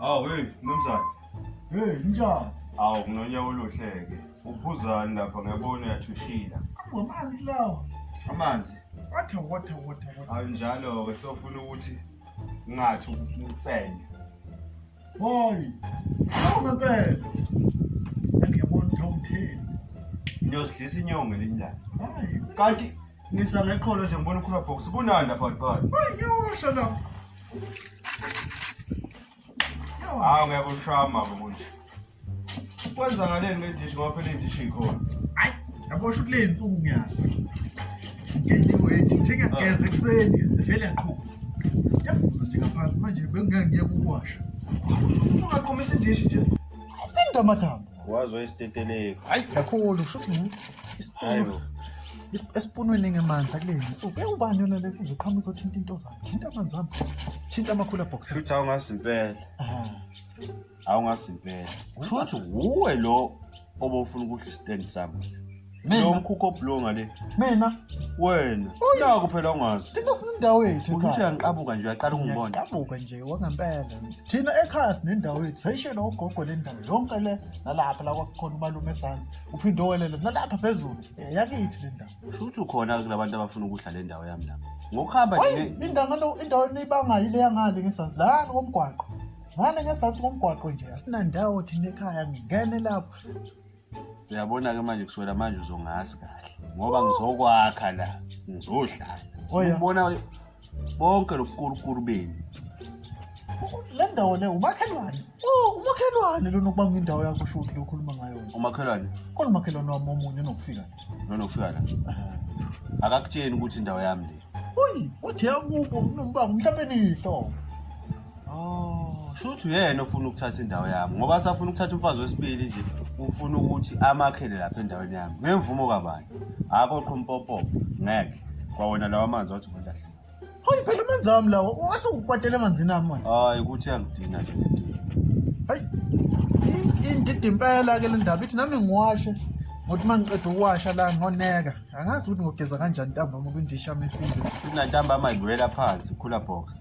Awu hey mnumzane. Hey njani? Awu kunonyaka oluhleke. Uphuzani lapha ngiyabona uyathushila. Amanzi lawa. Amanzi. Water water water water. Awu njalo ke sofuna ukuthi ngathi ukucenya. Boy. Awume mpela. Ngiyabona ukuthi awumtheni. Ngiyozidlisa inyongo elinjani. Hayi. Kanti ngisa ngeqholo nje ngibona ukhula box kunanda phakathi phakathi. Hayi ngiyosho la. Hawu ngeke ushama bo kunje. Kwenzakaleni ngedishi ngoba phela idishi ikhona. Hayi, yabo shuthi le insuku ngiyazi. Ngentiwe ethi njenge ah. as ekseni vele yaqhuba. Yafuza nje ngaphansi manje bengingangiye kukwasha. Usungaqhumisa idishi nje. Sindwa amathambo. Wazwa isiteteleko. Hayi, kakhulu shuthi ngithi isiteteleko. esipunweni ngemandla kule nsuku ewubani yona lethi izoqhamuka izothinta into zakhe thinta amanzi ami thinta amakhula box futhi awungazi impela Hawu ngazi impela. Kusho ukuthi wuwe lo obofuna ukuhla istand sami. Lo Mina, mkhukho obulonga le. mina, Wena. Naku phela ungazi. thina sinendawo yethu Kusho ukuthi ekhaya. uyangiqabuka nje uyaqala ukungibona. Ngiyabuka nje wangempela. Thina ekhaya sinendawo yethu. Sayishela ugogo le ndawo yonke le nalapha la kwakukhona umalume esantsi. Uphinde owelele nalapha phezulu. Eh, Yakithi le ndawo. Kusho ukuthi ukhona kulabantu abafuna ukuhla le ndawo yami lapha. Ngokuhamba Hayi, nje indawo indawo enibangayo ile yangale ngesantsi. La komgwaqo. ngane ngesizathu komgwaqo nje asinandawo thina ekhaya ngingene lapho uyabona-ke manje kuswela manje uzongazi kahle ngoba ngizokwakha la ngizohlala Oya. ubona bonke lobukurukuru benu le ndawo le umakhelwane Oh, umakhelwane lona ukuba ngindawo yakho usho ukuthi lokhuluma ngayo umakhelwane khona umakhelwane wami omunye onokufika nona ufika la akakutsheni ukuthi indawo yami le uyi uthe akubo unombango mhlawumbe nihlo Oh, shuthi uyena ofuna ukuthatha indawo yami ngoba asafuna ukuthatha umfazi wesibili nje ufuna ukuthi amakhele lapha endaweni yami ngemvumo kabani akho qhumpopo ngeke kwawona lawa amanzi wathi umuntu ahle hayi phela amanzi ami lawo wasukukwatela emanzini ami manje hayi ukuthi angidina nje hayi indida impela ke le ndaba ithi nami ngiwashe ngokuthi uma ngiqeda ukuwasha la ngoneka angazi ukuthi ngogeza kanjani ntambama kwindisha amefile futhi nantambama ibuyela phansi khula box